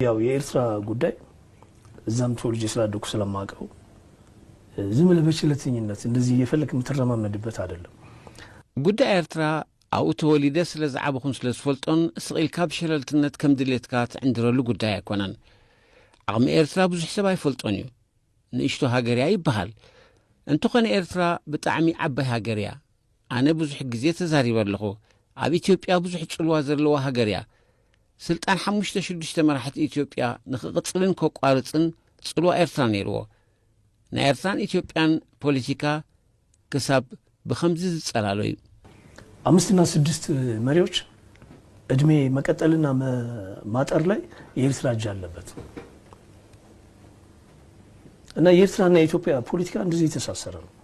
ያው የኤርትራ ጉዳይ እዛም ተወልጄ ስላደኩ ስለማውቀው ዝም ብለህ በችለተኝነት እንደዚህ እየፈለክ የምትረማመድበት አይደለም። ጉዳይ ኤርትራ ኣብኡ ተወሊደ ስለ ዝዓበኹን ስለ ዝፈልጦን ስቕ ኢልካ ብሸለልትነት ከም ድሌትካ ትዕንድረሉ ጉዳይ ኣይኮነን። ዓቕሚ ኤርትራ ብዙሕ ሰብ ኣይፈልጦን እዩ። ንእሽቶ ሃገር እያ ይበሃል። እንተኾነ ኤርትራ ብጣዕሚ ዓባይ ሃገር እያ። ኣነ ብዙሕ ግዜ ተዛሪበ ኣለኹ ኣብ ኢትዮጵያ ብዙሕ ጽልዋ ዘለዋ ሃገር እያ ስልጣን ሓሙሽተ ሽዱሽተ መራሕቲ ኢትዮጵያ ንክቕጽልን ከቋርጽን ጽልዋ ኤርትራ ነይርዎ ናይ ኤርትራን ኢትዮጵያን ፖለቲካ ክሳብ ብከምዚ ዝጸላሎ እዩ አምስት እና ስድስት መሪዎች እድሜ መቀጠልና ማጠር ላይ የኤርትራ እጅ አለበት እና የኤርትራና የኢትዮጵያ ፖለቲካ እንደዚህ የተሳሰረ ነው።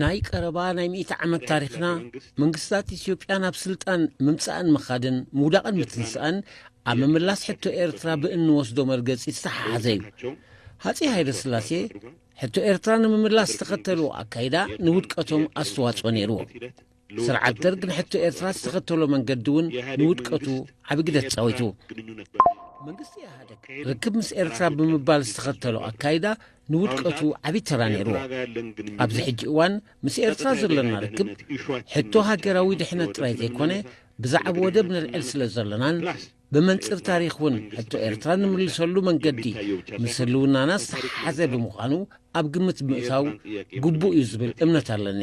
ናይ ቀረባ ናይ ሚእቲ ዓመት ታሪኽና መንግስታት ኢትዮጵያ ናብ ስልጣን ምምጻእን ምኻድን ምውዳቕን ምትንሳእን ኣብ ምምላስ ሕቶ ኤርትራ ብእንወስዶ መርገጺ ዝተሓሓዘ እዩ ሃጺ ሃይለ ስላሴ ሕቶ ኤርትራ ንምምላስ ዝተኸተልዎ ኣካይዳ ንውድቀቶም ኣስተዋጽኦ ነይርዎ ስርዓት ደርግ ንሕቶ ኤርትራ ዝተኸተሎ መንገዲ እውን ንውድቀቱ ዓብ ግደ ተጻዊቱ ርክብ ምስ ኤርትራ ብምባል ዝተኸተሎ ኣካይዳ ንውድቀቱ ዓብ ተራ ነይርዎ ኣብዚ ሕጂ እዋን ምስ ኤርትራ ዘሎና ርክብ ሕቶ ሃገራዊ ድሕነት ጥራይ ዘይኮነ ብዛዕብ ወደብ ንልዕል ስለ ዘሎናን ብመንፅር ታሪክ እውን ሕቶ ኤርትራ ንምልሰሉ መንገዲ ምስ ህልውናና ዝተሓሓዘ ብምዃኑ ኣብ ግምት ብምእታው ግቡእ እዩ ዝብል እምነት ኣለኒ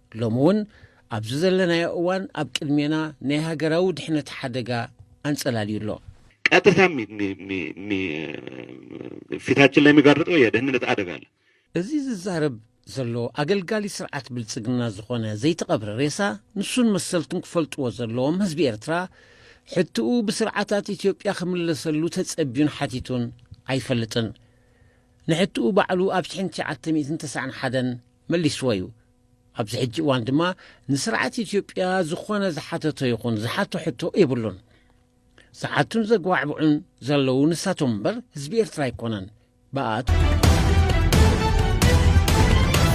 ሎሚ እውን ኣብዚ ዘለናዮ እዋን ኣብ ቅድሜና ናይ ሃገራዊ ድሕነት ሓደጋ ኣንጸላልዩ ኣሎ። ቀጥታ ፊታችን ላይ የሚጋርጠው የደህንነት አደጋ አለ። እዚ ዝዛረብ ዘሎ ኣገልጋሊ ስርዓት ብልጽግና ዝኾነ ዘይተቐብረ ሬሳ ንሱን መሰልቱን ክፈልጥዎ ዘለዎም ህዝቢ ኤርትራ ሕትኡ ብስርዓታት ኢትዮጵያ ክምለሰሉ ተጸቢዩን ሓቲቱን ኣይፈልጥን። ንሕትኡ ባዕሉ ኣብ ሽሕን ትሽዓተ ሚእትን ተስዓን ሓደን መሊስዎ እዩ። ኣብዚ ሕጂ እዋን ድማ ንስርዓት ኢትዮጵያ ዝኾነ ዝሓተቶ ይኹን ዝሓቶ ሕቶ የብሉን። ዝሓቱን ዘግባዕብዑን ዘለዉ ንሳቶም እምበር ህዝቢ ኤርትራ ኣይኮነን። ብኣት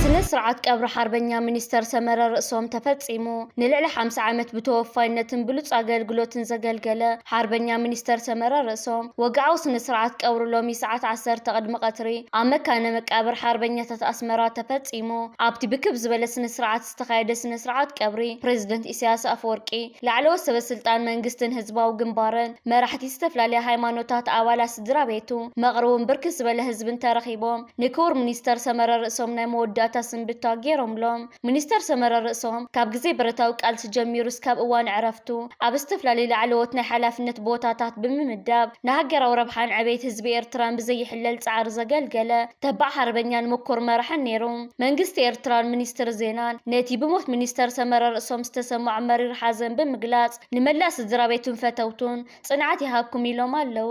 ስነ ስርዓት ቀብሪ ሓርበኛ ሚኒስተር ሰመረ ርእሶም ተፈጺሙ። ንልዕሊ 50 ዓመት ብተወፋይነትን ብሉጽ ኣገልግሎትን ዘገልገለ ሓርበኛ ሚኒስተር ሰመረ ርእሶም ወግዓዊ ስነ ስርዓት ቀብሩ ሎሚ ሰዓት ዓሰርተ ቅድሚ ቀትሪ ኣብ መካነ መቃብር ሓርበኛታት ኣስመራ ተፈጺሙ። ተፈጺሙ። ኣብቲ ብክብ ዝበለ ስነ-ስርዓት ዝተኻየደ ስነ-ስርዓት ቀብሪ ፕረዚደንት ኢሳያስ ኣፈወርቂ፣ ላዕለዎት ሰበስልጣን መንግስትን ህዝባዊ ግንባርን፣ መራሕቲ ዝተፈላለያ ሃይማኖታት፣ ኣባላት ስድራቤቱ፣ መቕርውን ብርክት ዝበለ ህዝብን ተረኺቦም ንክቡር ሚኒስተር ሰመረ ርእሶም ናይ መወዳእታ ስንብታ ገይሮምሎም። ሚኒስተር ሰመረ ርእሶም ካብ ግዜ ብረታዊ ቃልሲ ጀሚሩ እስካብ እዋን ዕረፍቱ ኣብ ዝተፈላለዩ ላዕለዎት ናይ ሓላፍነት ቦታታት ብምምዳብ ንሃገራዊ ረብሓን ዕቤት ህዝቢ ኤርትራን ብዘይሕለል ጻዕሪ ዘገልገለ ተባዕ ሓርበኛን ምኩር መራሕን ነይሩ። መንግስቲ ኤርትራን ሚኒስትሪ ዜናን ነቲ ብሞት ሚኒስተር ሰመረ ርእሶም ዝተሰምዖም መሪር ሓዘን ብምግላጽ ንመላእ ስድራቤቱን ፈተውቱን ጽንዓት ይሃብኩም ኢሎም ኣለዉ።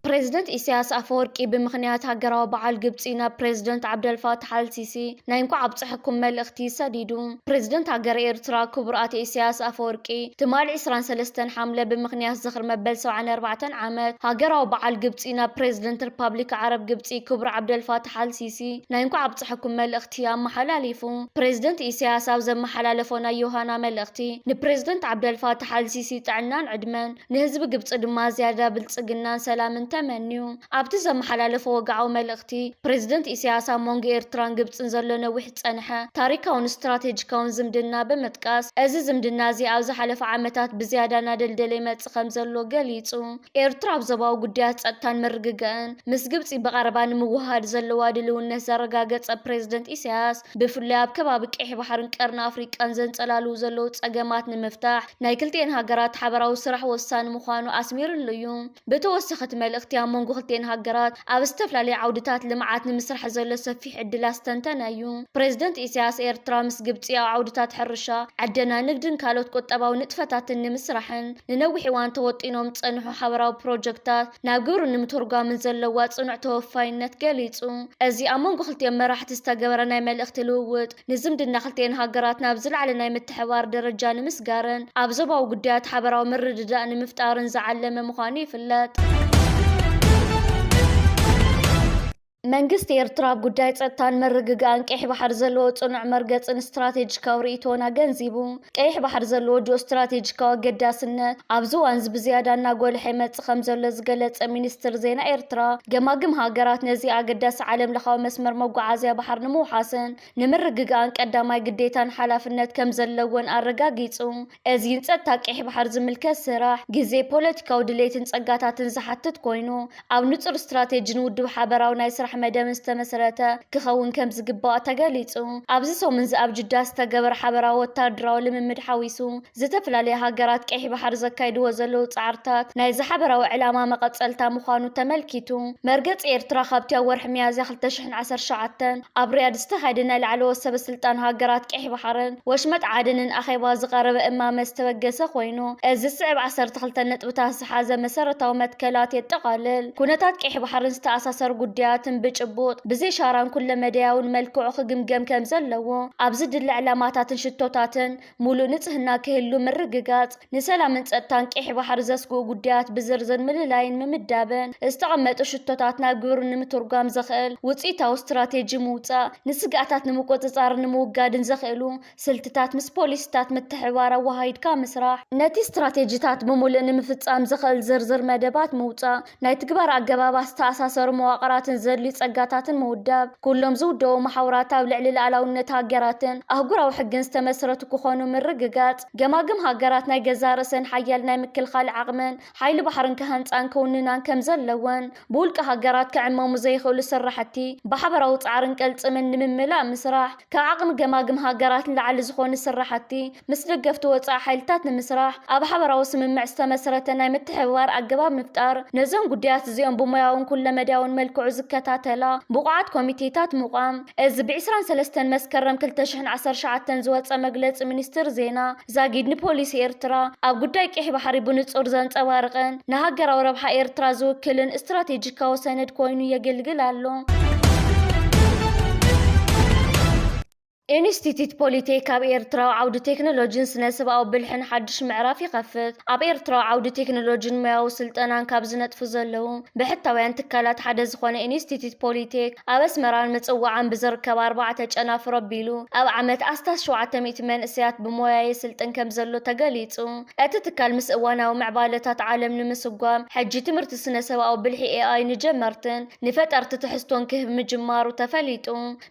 ፕሬዝደንት ኢሳያስ ኣፈወርቂ ብምኽንያት ሃገራዊ በዓል ግብጺ ናብ ፕሬዝደንት ዓብደልፋታሕ ኣልሲሲ ናይ እንኳዕ ኣብፀሐኩም መልእኽቲ ሰዲዱ። ፕረዚደንት ሃገረ ኤርትራ ክቡር ኣቶ ኢሳያስ ኣፈወርቂ፣ ትማሊ ዕስራን ሰለስተን ሓምለ ብምኽንያት ዝኽሪ መበል ሰብዓን ኣርባዕተን ዓመት ሃገራዊ በዓል ግብጺ ናብ ፕረዚደንት ርፓብሊክ ዓረብ ግብጺ ክቡር ዓብደልፋታሕ ኣል ሲሲ ናይ እንኳዕ ኣብጸሐኩም መልእኽቲ ኣመሓላሊፉ። ፕረዚደንት ኢሳያስ ኣብ ዘመሓላለፎ ናይ ዮሃና መልእኽቲ፣ ንፕረዚደንት ዓብደልፋታሕ ኣል ሲሲ ጥዕናን ዕድመን፣ ንህዝቢ ግብጺ ድማ ዝያዳ ብልጽግናን ሰላምን ተመንዩ። ኣብቲ ዘመሓላለፎ ወግዓዊ መልእኽቲ፣ ፕረዚደንት ኢሳያስ ኣብ መንጎ ኤርትራን ግብጽን ዘሎ ነዊሕ ዝጸንሐ ታሪካውን ስትራቴጂካውን ዝምድና ብምጥቃስ፣ እዚ ዝምድና እዚ ኣብ ዝሓለፈ ዓመታት ብዝያዳ እናደልደለ ይመጽእ ከምዘሎ ገሊጹ። ኤርትራ ኣብ ዞባዊ ጉዳያት ጸጥታን ምርግጋእን ምስ ግብጺ ብቐረባ ንምውህሃድ ዘለዋ ድልውነት ዘረጋገጸ ፕሬዝደንት ኢሳያስ፣ ብፍላይ ኣብ ከባቢ ቀይሕ ባሕርን ቀርኒ ኣፍሪቃን ዘንጸላልዉ ዘለዉ ጸገማት ንምፍታሕ ናይ ክልቲኤን ሃገራት ሓበራዊ ስራሕ ወሳኒ ምዃኑ ኣስሚርሉ እዩ። ብተወሳኺ እቲ መልእኽቲ ኣብ መንጎ ክልቲኤን ሃገራት ኣብ ዝተፈላለዩ ዓውድታት ልምዓት ንምስራሕ ዘሎ ሰፊሕ ዕድል ኣስተንተነ እዩ። ፕረዚደንት ኢሳያስ፣ ኤርትራ ምስ ግብጺ ኣብ ዓውድታት ሕርሻ፣ ዕደና፣ ንግድን ካልኦት ቁጠባዊ ንጥፈታትን ንምስራሕን ንነዊሕ እዋን ተወጢኖም ዝጸንሑ ሓበራዊ ፕሮጀክታት ናብ ግብሪ ንምትርጓምን ዘለዋ ጽኑዕ ተወፋይነት ገሊጹ። እዚ ኣብ መንጎ ክልቲኦም መራሕቲ ዝተገበረ ናይ መልእኽቲ ልውውጥ፣ ንዝምድና ክልቲኤን ሃገራት ናብ ዝለዓለ ናይ ምትሕብባር ደረጃ ንምስጋርን ኣብ ዞባዊ ጉዳያት ሓበራዊ ምርድዳእ ንምፍጣርን ዝዓለመ ምዃኑ ይፍለጥ። መንግስቲ ኤርትራ ኣብ ጉዳይ ጸጥታን ምርግጋእን ቀይሕ ባሕሪ ዘለዎ ጽኑዕ መርገጽን ስትራቴጂካዊ ርእይቶን ኣገንዚቡ። ቀይሕ ባሕሪ ዘለዎ ጂኦስትራቴጂካዊ ኣገዳስነት ኣብዚ እዋንዚ ብዝያዳ እናጎልሐ ይመጽእ ከምዘሎ ዝገለጸ ሚኒስትሪ ዜና ኤርትራ፣ ገማግም ሃገራት ነዚ ኣገዳሲ ዓለምለኻዊ መስመር መጓዓዝያ ባሕሪ ንምውሓስን ንምርግጋእን ቀዳማይ ግዴታን ሓላፍነት ከምዘለወን ኣረጋጊጹ። እዚ ንጸጥታ ቀይሕ ባሕሪ ዝምልከት ስራሕ፣ ግዜ፣ ፖለቲካዊ ድሌትን ጸጋታትን ዝሓትት ኮይኑ፣ ኣብ ንፁር ስትራቴጂን ውዱብ ሓበራዊ ናይ ስራሕ መደብን ዝተመስረተ ክኸውን ከምዝግባእ ተገሊፁ። ኣብዚ ሰሙን እዚ ኣብ ጅዳ ዝተገበረ ሓበራዊ ወታደራዊ ልምምድ ሓዊሱ ዝተፈላለያ ሃገራት ቀይሕ ባሕሪ ዘካይድዎ ዘለዉ ፃዕርታት ናይዚ ሓበራዊ ዕላማ መቐፀልታ ምዃኑ ተመልኪቱ። መርገፂ ኤርትራ ካብቲ ኣብ ወርሒ ሚያዝያ ክልተ ሽሕን ዓሰርተ ሸውዓተን ኣብ ሪያድ ዝተኻየደ ናይ ላዕለዎት ሰበ ስልጣን ሃገራት ቀይሕ ባሕርን ወሽመጥ ዓደንን ኣኼባ ዝቐረበ እማመ ዝተበገሰ ኮይኑ እዚ ዝስዕብ ዓሰርተ ክልተ ነጥብታት ዝተሓዘ መሰረታዊ መትከላት የጠቓልል። ኩነታት ቀይሕ ባሕርን ዝተኣሳሰሩ ጉዳያትን ብጭቡጥ፣ ብዘይሻራን ኩለመዳያውን መልክዑ ክግምገም ከም ዘለዎ፣ ኣብ ዝድለ ዕላማታትን ሽቶታትን ሙሉእ ንጽህና ክህሉ ምርግጋጽ፣ ንሰላምን ጸጥታን ቀይሕ ባሕሪ ዘስግኡ ጉዳያት ብዝርዝር ምልላይን ምምዳብን፣ ዝተቐመጡ ሽቶታት ናብ ግብሪ ንምትርጓም ዘኽእል ውጽኢታዊ ስትራቴጂ ምውጻእ፣ ንስግኣታት ንምቁጽጻርን ንምውጋድን ዘኽእሉ ስልትታት ምስ ፖሊሲታት ምትሕብባር ኣወሃሂድካ ምስራሕ። ነቲ ስትራቴጂታት ብምሉእ ንምፍጻም ዘኸእል ዝርዝር መደባት ምውጻእ። ናይ ትግባረ ኣገባባት ዝተኣሳሰሩ መዋቕራትን ዘድልዩ ጸጋታትን ምውዳብ። ኩሎም ዝውደቡ መሓውራት ኣብ ልዕሊ ልኣላውነት ሃገራትን ኣህጉራዊ ሕግን ዝተመስረቱ ክኾኑ ምርግጋጽ። ገማግም ሃገራት ናይ ገዛእ ርእሰን ሓያል ናይ ምክልኻል ዓቕምን ሓይሊ ባሕርን ክሃንጻን ክውንናን ከም ዘለወን፣ ብውልቀ ሃገራት ክዕመሙ ዘይኽእሉ ስራሕቲ ብሓበራዊ ጻዕርን ቅልጽምን ንምምላእ ምስራሕ፣ ካብ ዓቕሚ ገማግም ሃገራት ንላዕሊ ዝኾኑ ስራሕቲ ምስ ደገፍቲ ወጻኢ ሓይልታት ንምስራሕ ኣብ ሓበራዊ ስምምዕ ዝተመስረተ ናይ ምትሕብባር ኣገባብ ምፍጣር፣ ነዞም ጉዳያት እዚኦም ብሞያውን ኩለመዳያውን መልክዑ ዝከታተላ ብቑዓት ኮሚቴታት ምቛም። እዚ ብ ዕስራን ሰለስተን መስከረም ክልተ ሽሕን ዓሰርተ ሸውዓተን ዝወጸ መግለጺ ሚኒስትሪ ዜና፣ ዛጊድ ንፖሊሲ ኤርትራ ኣብ ጉዳይ ቄሕ ባሕሪ ብንጹር ዘንጸባርቕን ንሃገራዊ ረብሓ ኤርትራ ዝውክልን ስትራቴጂካዊ ሰነድ ኮይኑ የግልግል ኣሎ። ኢንስቲትዩት ፖሊቴክ ኣብ ኤርትራዊ ዓውዲ ቴክኖሎጂን ስነ ስብኣዊ ብልሕን ሓድሽ ምዕራፍ ይኸፍት። ኣብ ኤርትራዊ ዓውዲ ቴክኖሎጂን ሞያዊ ስልጠናን ካብ ዝነጥፉ ዘለዉ ብሕታውያን ትካላት ሓደ ዝኾነ ኢንስቲትዩት ፖሊ ቴክ ኣብ ኣስመራን ምጽዋዓን ብዝርከብ ኣርባዕተ ጨናፍር ኣቢሉ ኣብ ዓመት ኣስታት ሸውዓተ ሚእቲ መንእሰያት ብሞያ የስልጥን ከምዘሎ ተገሊጹ። እቲ ትካል ምስ እዋናዊ ምዕባለታት ዓለም ንምስጓም ሕጂ ትምህርቲ ስነ-ሰብኣዊ ብልሒ ኤኣይ ንጀመርትን ንፈጠርቲ ትሕዝቶን ክህብ ምጅማሩ ተፈሊጡ።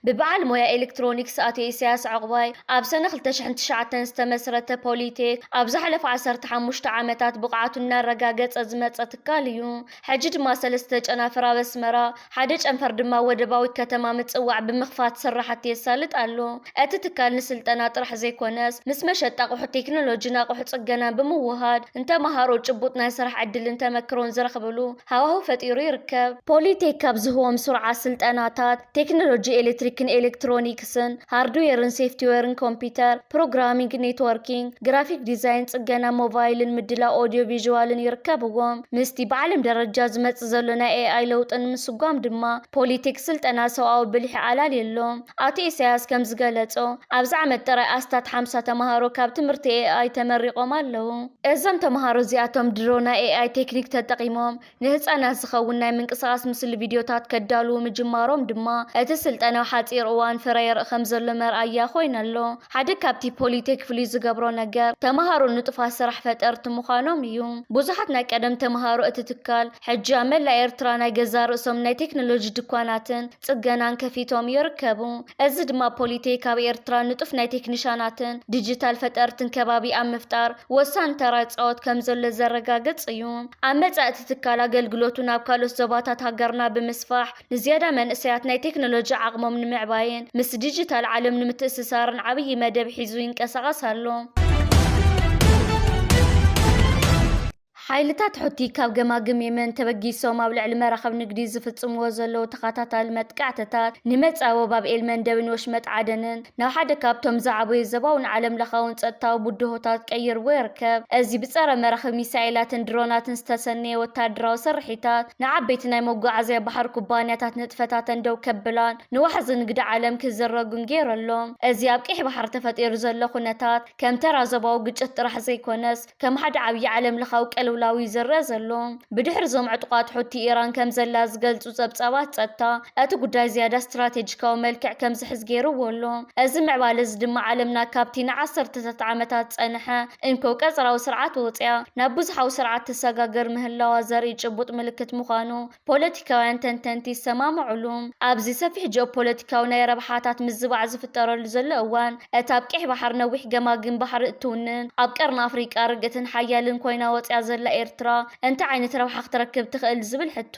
ብበዓል ሞያ ኤሌክትሮኒክስ ኣቶ ኢሳያስ ዑቕባይ ኣብ ሰነ ክልተ ሽሕን ትሽዓተን ዝተመስረተ ፖሊቴክ ኣብ ዝሓለፉ ዓሰርተ ሓሙሽተ ዓመታት ብቕዓቱ እናረጋገፀ ዝመፀ ትካል እዩ። ሕጂ ድማ ሰለስተ ጨናፍር ኣብ ኣስመራ፣ ሓደ ጨንፈር ድማ ኣብ ወደባዊት ከተማ ምፅዋዕ ብምኽፋት ስራሕቲ የሳልጥ ኣሎ። እቲ ትካል ንስልጠና ጥራሕ ዘይኮነስ ምስ መሸጣ ኣቕሑት ቴክኖሎጂን ኣቕሑት ፅገናን ብምውህሃድ ንተምሃሮ ጭቡጥ ናይ ስራሕ ዕድልን ተመክሮን ዝረኽብሉ ሃዋህው ፈጢሩ ይርከብ። ፖሊቴክ ካብ ዝህቦም ስሩዓት ስልጠናታት፣ ቴክኖሎጂ ኤሌክትሪክን ኤሌክትሮኒክስን፣ ሃርድዌርን ሴፍቲዌርን ኮምፒተር፣ ፕሮግራሚንግ፣ ኔትወርኪንግ፣ ግራፊክ ዲዛይን፣ ጽገና ሞባይልን ምድላው ኦድዮ ቪዥዋልን ይርከብዎም። ምስቲ ብዓለም ደረጃ ዝመጽእ ዘሎ ናይ ኤኣይ ለውጢ ንምስጓም ድማ ፖሊቴክ ስልጠና ሰውኣዊ ብልሒ ኣላልዩ ኣሎ። ኣቶ ኢሳያስ ከም ዝገለጾ፣ ኣብዚ ዓመት ጥራይ ኣስታት ሓምሳ ተመሃሮ ካብ ትምህርቲ ኤኣይ ተመሪቖም ኣለዉ። እዞም ተመሃሮ እዚኣቶም ድሮ ናይ ኤኣይ ቴክኒክ ተጠቒሞም ንህጻናት ዝኸውን ናይ ምንቅስቓስ ምስሊ ቪድዮታት ከዳልዉ ምጅማሮም ድማ፣ እቲ ስልጠና ሓጺር እዋን ፍረ የርኢ ከም ዘሎ መርኣያ ኮይኑ ኣሎ። ሓደ ካብቲ ፖሊቴክ ፍሉይ ዝገብሮ ነገር፣ ተመሃሮ ንጡፋት ስራሕ ፈጠርቲ ምዃኖም እዩ። ብዙሓት ናይ ቀደም ተመሃሮ እቲ ትካል፣ ሕጂ ኣብ መላእ ኤርትራ ናይ ገዛእ ርእሶም ናይ ቴክኖሎጂ ድኳናትን፣ ፅገናን ከፊቶም ይርከቡ። እዚ ድማ ፖሊቴክ ኣብ ኤርትራ ንጡፍ ናይ ቴክኒሻናትን ዲጂታል ፈጠርትን ከባቢ ኣብ ምፍጣር ወሳኒ ተራ ይፃወት ከምዘሎ ዘረጋግፅ እዩ። ኣብ መፃኢ እቲ ትካል ኣገልግሎቱ ናብ ካልኦት ዞባታት ሃገርና ብምስፋሕ ንዝያዳ መንእሰያት ናይ ቴክኖሎጂ ዓቕሞም ንምዕባይን ምስ ዲጂታል ዓለም ንምትእስሳርን ዓብዪ መደብ ሒዙ ይንቀሳቐስ ኣሎ። ሓይልታት ሑቲ ካብ ገማግም የመን ተበጊሶም ኣብ ልዕሊ መራኽብ ንግዲ ዝፍጽምዎ ዘለዉ ተኸታታሊ መጥቃዕትታት፣ ንመጻወ ባብ ኤል-መንደብን ወሽመጥ ዓደንን ናብ ሓደ ካብቶም ዝዓበዩ ዘባውን ዓለምለኻውን ጸጥታዊ ብድሆታት ቀይርዎ ይርከብ። እዚ ብጸረ-መራኽብ ሚሳኤላትን ድሮናትን ዝተሰነየ ወተሃደራዊ ስርሒታት፣ ንዓበይቲ ናይ መጓዓዝያ ባሕሪ ኩባንያታት ንጥፈታተን ደው ከብላን ንዋሕዚ ንግዲ ዓለም ክዝረጉን ገይሩ ኣሎ። እዚ ኣብ ቀይሕ ባሕሪ ተፈጢሩ ዘሎ ኩነታት፣ ከም ተራ ዞባዊ ግጭት ጥራሕ ዘይኮነስ፣ ከም ሓደ ዓብዪ ዓለምለኻዊ ቅልውላው እዩ ዝረኣ ዘሎ። ብድሕሪ እዞም ዕጡቓት ሑቲ ኢራን ከም ዘላ ዝገልጹ ጸብጻባት ጸጥታ፣ እቲ ጉዳይ ዝያዳ ስትራቴጂካዊ መልክዕ ከም ዝሕዝ ገይርዎ ኣሎ። እዚ ምዕባለ እዚ ድማ ዓለምና ካብቲ ንዓሰርተታት ዓመታት ዝጸንሐ እንኮ ቀጽራዊ ስርዓት ወጺኣ ናብ ብዙሓዊ ስርዓት ትሰጋገር ምህላዋ ዘርኢ ጭቡጥ ምልክት ምዃኑ ፖለቲካውያን ተንተንቲ ዝሰማምዑሉ፣ ኣብዚ ሰፊሕ ጂኦፖለቲካዊ ናይ ረብሓታት ምዝባዕ ዝፍጠረሉ ዘሎ እዋን፣ እታ ኣብ ቀይሕ ባሕሪ ነዊሕ ገማግም ባሕሪ እትውንን፣ ኣብ ቀርኒ ኣፍሪቃ ርግእትን ሓያልን ኮይና ወጺኣ ዘላ ኤርትራ እንታይ ዓይነት ረብሓ ክትረክብ ትኽእል ዝብል ሕቶ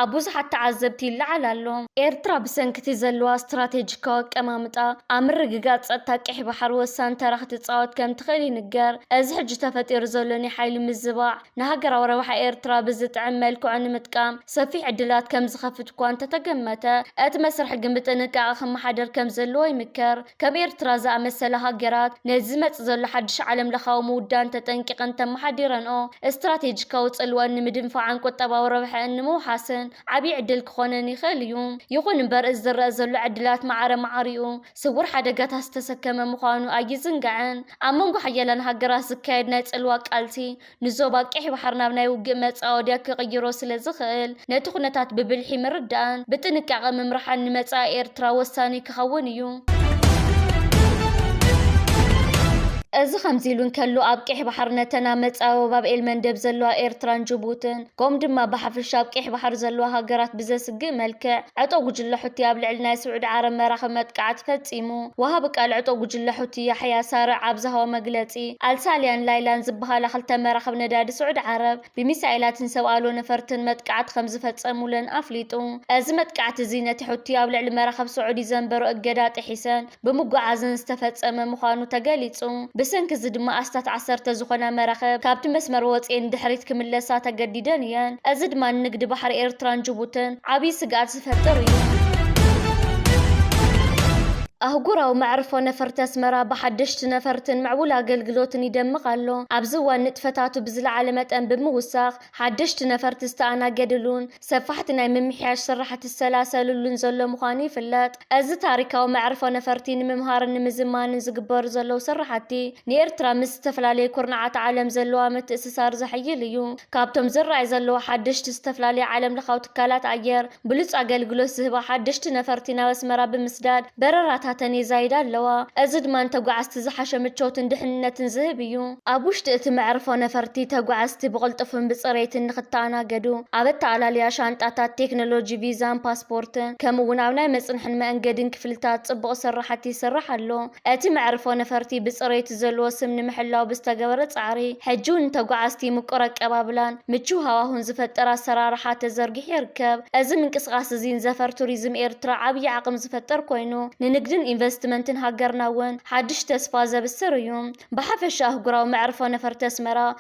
ኣብ ብዙሓት ተዓዘብቲ ይለዓል ኣሎ። ኤርትራ ብሰንኪ'ቲ ዘለዋ ስትራቴጂካዊ ኣቀማምጣ፣ ኣብ ምርግጋጽ ጸጥታ ቀይሕ ባሕሪ ወሳኒ ተራ ክትጻወት ከምትኽእል ይንገር። እዚ ሕጂ ተፈጢሩ ዘሎ ናይ ሓይሊ ምዝባዕ፣ ንሃገራዊ ረብሓ ኤርትራ ብዝጥዕም መልክዑ ንምጥቃም ሰፊሕ ዕድላት ከም ዝኸፍት እኳ እንተተገመተ፣ እቲ መስርሕ ግን ብጥንቃቐ ክመሓደር ከም ዘለዎ ይምከር። ከም ኤርትራ ዝኣመሰላ ሃገራት፣ ነዚ ዝመጽእ ዘሎ ሓድሽ ዓለምለኻዊ ምውዳን ተጠንቂቐን እንተመሓዲረንኦ፣ ስትራቴጂካዊ ጽልወኣን ንምድንፋዕን ቁጠባዊ ረብሐኣን ንምውሓስን ዓብዪ ዕድል ክኾነን ይኽእል እዩ። ይኹን እምበር፣ እዚ ዝረኣ ዘሎ ዕድላት ማዕረ ማዕሪኡ፣ ስውር ሓደጋታት ዝተሰከመ ምዃኑ ኣይዝንጋዕን። ኣብ መንጎ ሓያላን ሃገራት ዝካየድ ናይ ጽልዋ ቃልሲ፣ ንዞባ ቀይሕ ባሕሪ ናብ ናይ ውግእ መጻወድያ ክቕይሮ ስለ ዝኽእል፣ ነቲ ኩነታት ብብልሒ ምርዳእን ብጥንቃቐ ምምራሕን ንመጻኢ ኤርትራ ወሳኒ ክኸውን እዩ። እዚ ከምዚ ኢሉ እንከሎ፣ ኣብ ቀይሕ ባሕሪ ነተን ኣብ መጻብቦ ባብ ኤልመንደብ ዘለዋ ኤርትራን ጅቡትን፣ ከምኡ ድማ ብሓፈሻ ኣብ ቀይሕ ባሕሪ ዘለዋ ሃገራት ብዘስግእ መልክዕ ዕጡቕ ጉጅለ ሑቲ ኣብ ልዕሊ ናይ ስዑዲ ዓረብ መራኽብ መጥቃዕቲ ፈጺሙ። ወሃቢ ቃል ዕጡቕ ጉጅለ ሑቲ ያሕያ ሳርዕ ኣብ ዝሃቦ መግለጺ፣ ኣልሳልያን ላይላን ዝበሃላ ክልተ መራኽብ ነዳዲ ስዑዲ ዓረብ ብሚሳኤላትን ሰብ ኣልቦ ነፈርትን መጥቃዕቲ ከምዝፈጸሙለን ኣፍሊጡ። እዚ መጥቃዕቲ እዚ ነቲ ሑቲ ኣብ ልዕሊ መራኽብ ስዑዲ ዘንበሮ እገዳ ጥሒሰን ብምጉዓዝን ዝተፈጸመ ምዃኑ ተገሊጹ። ብሰንኪ እዚ ድማ ኣስታት ዓሰርተ ዝኾና መራኽብ ካብቲ መስመር ወጺኤን ንድሕሪት ክምለሳ ተገዲደን እየን። እዚ ድማ ንንግዲ ባሕሪ ኤርትራን ጅቡትን ዓብዪ ስግኣት ዝፈጥር እዩ። ኣህጉራዊ መዕርፎ ነፈርቲ ኣስመራ ብሓደሽቲ ነፈርትን ምዕቡል ኣገልግሎትን ይደምቕ ኣሎ። ኣብዚ እዋን ንጥፈታቱ ብዝለዓለ መጠን ብምውሳኽ ሓደሽቲ ነፈርቲ ዝተኣናገድሉን፣ ሰፋሕቲ ናይ ምምሕያሽ ስራሕቲ ዝሰላሰልሉን ዘሎ ምዃኑ ይፍለጥ። እዚ ታሪካዊ መዕርፎ ነፈርቲ ንምምሃርን ንምዝማንን ዝግበሩ ዘለዉ ስራሕቲ፣ ንኤርትራ ምስ ዝተፈላለዩ ኩርናዓት ዓለም ዘለዋ ምትእስሳር ዘሐይል እዩ። ካብቶም ዝረኣዩ ዘለዉ ሓደሽቲ ዝተፈላለዩ ዓለምለኻዊ ትካላት ኣየር ብሉጽ ኣገልግሎት ዝህባ ሓደሽቲ ነፈርቲ ናብ ኣስመራ ብምስዳድ፣ በረራታተን የዛይዳ ኣለዋ፣ እዚ ድማ ንተጓዓዝቲ ዝሓሸ ምቾትን ድሕንነትን ዝህብ እዩ። ኣብ ውሽጢ እቲ መዕርፎ ነፈርቲ፣ ተጓዓዝቲ ብቕልጡፍን ብጽሬትን ንኽተኣናገዱ፣ ኣብ ኣተኣላልያ ሻንጣታት፣ ቴክኖሎጂ፣ ቪዛን ፓስፖርትን፣ ከምኡ'ውን ኣብ ናይ መጽንሕን መእንገዲን ክፍልታት ጽቡቕ ስርሓት ይስራሕ ኣሎ። እቲ መዕርፎ ነፈርቲ ብጽሬቱ፣ እቲ ዘለዎ ስም ንምሕላው ብዝተገበረ ፃዕሪ ሕጂውን ንተጓዓዝቲ ምቁር ኣቀባብላን ምችው ሃዋሁን ዝፈጥር ኣሰራርሓ ተዘርጊሑ ይርከብ። እዚ ምንቅስቓስ እዚ ንዘፈር ቱሪዝም ኤርትራ ዓብዪ ዓቕሚ ዝፈጥር ኮይኑ ንንግድን ኢንቨስትመንትን ሃገርና እውን ሓዱሽ ተስፋ ዘብስር እዩ። ብሓፈሻ ኣህጉራዊ መዕርፎ ነፈርቲ ኣስመራ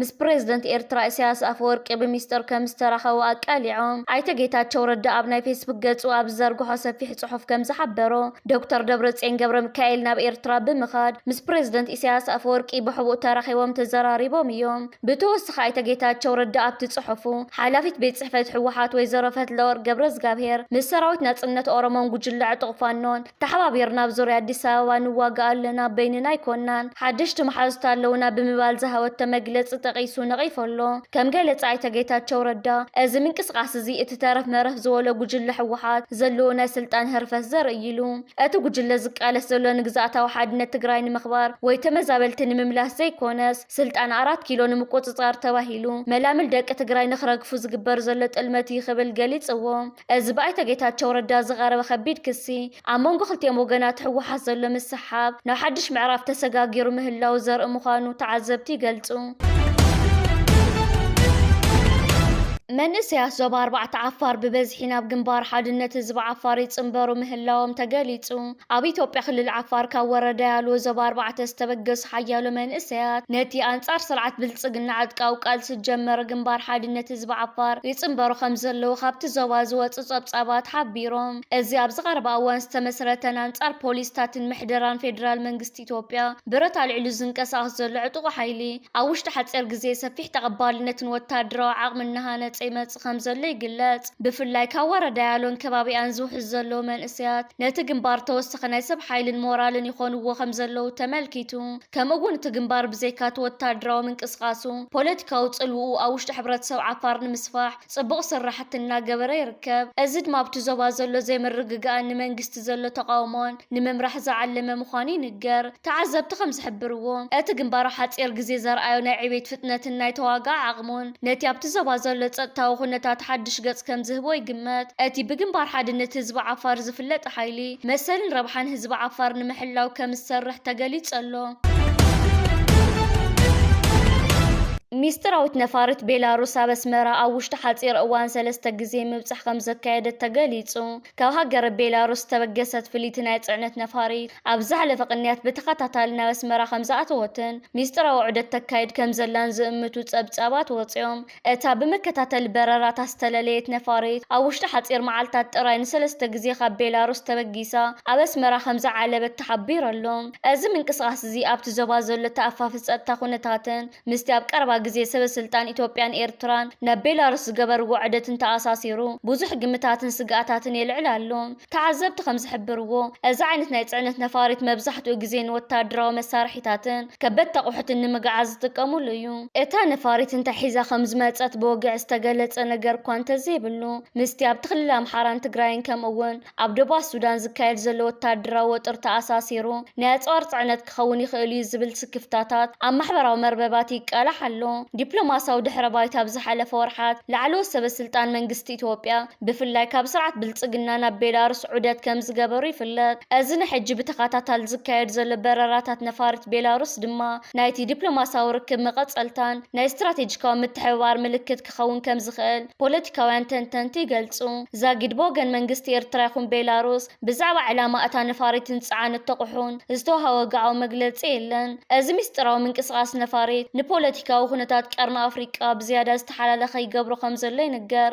ምስ ፕሬዝደንት ኤርትራ ኢሳያስ ኣፈወርቂ ብሚስጥር ከምዝተራኸቡ ኣቃሊዖም። ኣይተ ጌታቸው ረዳ ኣብ ናይ ፌስቡክ ገፁ ኣብ ዝዘርግሖ ሰፊሕ ፅሑፍ ከምዝሓበሮ፣ ዶክተር ደብረፅዮን ገብረሚካኤል ናብ ኤርትራ ብምኻድ ምስ ፕሬዝደንት ኢሳያስ ኣፈወርቂ ብሕቡእ ተራኺቦም ተዘራሪቦም እዮም። ብተወስኺ ኣይተ ጌታቸው ረዳ ኣብቲ ፅሑፉ፣ ሓላፊት ቤት ፅሕፈት ህወሓት ወይዘሮ ፈትለወርቅ ገብረዝጋብሄር ምስ ሰራዊት ናፅነት ኦሮሞን ጉጅለ ዕጡቕ ፋኖን ተሓባቢርና ኣብ ዙርያ ኣዲስ ኣበባ ንዋጋእ ኣለና፣ በይንና ኣይኮናን፣ ሓደሽቲ መሓዙት ኣለዉና ብምባል ዝሃወቶ መግለፂ ጠቒሱ ነቒፉ ኣሎ። ከም ገለፃ ኣይተ ጌታቸው ረዳ፣ እዚ ምንቅስቓስ እዚ እቲ ተረፍ መረፍ ዝበሎ ጉጅለ ህወሓት ዘለዎ ናይ ስልጣን ህርፈት ዘርኢ እዩ ኢሉ። እቲ ጉጅለ ዝቃለስ ዘሎ ንግዝኣታዊ ሓድነት ትግራይ ንምኽባር ወይ ተመዛበልቲ ንምምላስ ዘይኮነስ ስልጣን ኣራት ኪሎ ንምቁፅፃር ተባሂሉ መላምል ደቂ ትግራይ ንክረግፉ ዝግበር ዘሎ ጥልመት እዩ ክብል ገሊፅዎ። እዚ ብኣይተ ጌታቸው ረዳ ዝቐረበ ከቢድ ክሲ፣ ኣብ መንጎ ክልቲኦም ወገናት ህወሓት ዘሎ ምስሕሓብ ናብ ሓድሽ ምዕራፍ ተሰጋጊሩ ምህላዉ ዘርኢ ምዃኑ ተዓዘብቲ ይገልጹ። መንእሰያት ዞባ ኣርባዕተ ዓፋር ብበዝሒ ናብ ግንባር ሓድነት ህዝቢ ዓፋር ይጽንበሩ ምህላዎም ተገሊጹ። ኣብ ኢትዮጵያ ክልል ዓፋር ካብ ወረዳ ያሎ ዞባ ኣርባዕተ ዝተበገሱ ሓያሎ መንእሰያት ነቲ ኣንጻር ስርዓት ብልጽግና ዕጥቃዊ ቃልሲ ዝጀመረ ግንባር ሓድነት ህዝቢ ዓፋር ይጽንበሩ ከምዘለዉ ካብቲ ዞባ ዝወጹ ጸብጻባት ሓቢሮም። እዚ ኣብዚ ቀረባ እዋን ዝተመስረተን ኣንጻር ፖሊስታትን ምሕደራን ፌደራል መንግስቲ ኢትዮጵያ፣ ብረት ኣልዒሉ ዝንቀሳቐስ ዘሎ ዕጡቕ ሓይሊ፣ ኣብ ውሽጢ ሓጺር ግዜ ሰፊሕ ተቐባልነትን ወተሃደራዊ ዓቕሚ እናሃነጸ ይመጽእ ከምዘሎ ይግለጽ። ብፍላይ ካብ ዋራ ዳያሎን ከባቢኣን ዝውሕዙ ዘለዉ መንእሰያት፣ ነቲ ግንባር ተወሳኺ ናይ ሰብ ሓይልን ሞራልን ይኾንዎ ከምዘለዉ ተመልኪቱ። ከምኡ'ውን እቲ ግንባር ብዘይካ'ቲ ወተሃደራዊ ምንቅስቓሱ፣ ፖለቲካዊ ጽልውኡ ኣብ ውሽጢ ሕብረተሰብ ዓፋር ንምስፋሕ፣ ፅቡቕ ስራሕቲ እናገበረ ይርከብ። እዚ ድማ ኣብቲ ዞባ ዘሎ ዘይምርግጋእን ንመንግስቲ ዘሎ ተቓውሞን ንምምራሕ ዝዓለመ ምዃኑ ይንገር። ተዓዘብቲ ከምዝሕብርዎ፣ እቲ ግንባር ኣብ ሓፂር ግዜ ዘርኣዮ ናይ ዕቤት ፍጥነትን ናይ ተዋጋኢ ዓቕሙን ነቲ ኣብቲ ዞባ ዘሎ ፀጥታዊ ኩነታት ሓዱሽ ገፅ ከምዝህቦ ይግመት። እቲ ብግንባር ሓድነት ህዝቢ ዓፋር ዝፍለጥ ሓይሊ፣ መሰልን ረብሓን ህዝቢ ዓፋር ንምሕላው ከምዝሰርሕ ተገሊጹ'ሎ። ሚስጢራዊት ነፋሪት ቤላሩስ ኣብ ኣስመራ ኣብ ውሽጢ ሓጺር እዋን ሰለስተ ግዜ ምብጻሕ ከምዘካየደት ተገሊጹ። ካብ ሃገረ ቤላሩስ ዝተበገሰት ፍልይቲ ናይ ጽዕነት ነፋሪት ኣብ ዝሓለፈ ቅንያት ብተኸታታሊ ናብ ኣስመራ ከምዝኣተወትን ሚስጢራዊ ዑደት ተካይድ ከምዘላን ዝእምቱ ጸብጻባት ወጺኦም። እታ ብመከታተሊ በረራታት ዝተለለየት ነፋሪት፣ ኣብ ውሽጢ ሓጺር መዓልታት ጥራይ ንሰለስተ ግዜ ካብ ቤላሩስ ተበጊሳ ኣብ ኣስመራ ከም ዝዓለበት ተሓቢሩ ኣሎ። እዚ ምንቅስቓስ'ዚ ኣብቲ ዞባ ዘሎ ተኣፋፊ ጸጥታ ኩነታትን ምስቲ ኣብ ቀረባ ግዜ ሰበስልጣን ኢትዮጵያን ኤርትራን ናብ ቤላሩስ ዝገበርዎ ዑደትን ተኣሳሲሩ ብዙሕ ግምታትን ስግኣታትን የልዕል ኣሎ። ተዓዘብቲ ከም ዝሕብርዎ፣ እዚ ዓይነት ናይ ጽዕነት ነፋሪት መብዛሕትኡ ግዜ ንወተሃደራዊ መሳርሒታትን ከበድቲ ኣቑሑትን ንምግዓዝ ዝጥቀሙሉ እዩ። እታ ነፋሪት እንታይ ሒዛ ከም ዝመጸት ብወግዒ ዝተገለጸ ነገር እኳ እንተዘይብሉ፣ ምስቲ ኣብቲ ክልል ኣምሓራን ትግራይን ከምኡ'ውን ኣብ ደቡባት ሱዳን ዝካየድ ዘሎ ወተሃደራዊ ወጥሪ ተኣሳሲሩ ናይ ኣጽዋር ጽዕነት ክኸውን ይኽእል እዩ ዝብል ስክፍታታት ኣብ ማሕበራዊ መርበባት ይቃላሕ ኣሎ። ዲፕሎማስያዊ ድሕረ ባይታ ኣብ ዝሓለፈ ወርሓት ላዕለዎት ሰበ ስልጣን መንግስቲ ኢትዮጵያ ብፍላይ ካብ ስርዓት ብልጽግና ናብ ቤላሩስ ዑደት ከም ዝገበሩ ይፍለጥ። እዚ ንሕጂ ብተኸታታሊ ዝካየድ ዘሎ በረራታት ነፋሪት ቤላሩስ ድማ ናይቲ ዲፕሎማስያዊ ርክብ መቐጸልታን ናይ ስትራቴጂካዊ ምትሕብባር ምልክት ክኸውን ከም ዝኽእል ፖለቲካውያን ተንተንቲ ይገልጹ። ዛጊድ ብወገን መንግስቲ ኤርትራ ይኹን ቤላሩስ ብዛዕባ ዕላማ እታ ነፋሪትን ጽዓን እተቑሑን ዝተዋህበ ወግዓዊ መግለጺ የለን። እዚ ምስጢራዊ ምንቅስቓስ ነፋሪት፣ ንፖለቲካዊ ኩነታት ቀርኒ ኣፍሪቃ ብዝያዳ ዝተሓላለኸ ይገብሮ ከም ዘሎ ይንገር።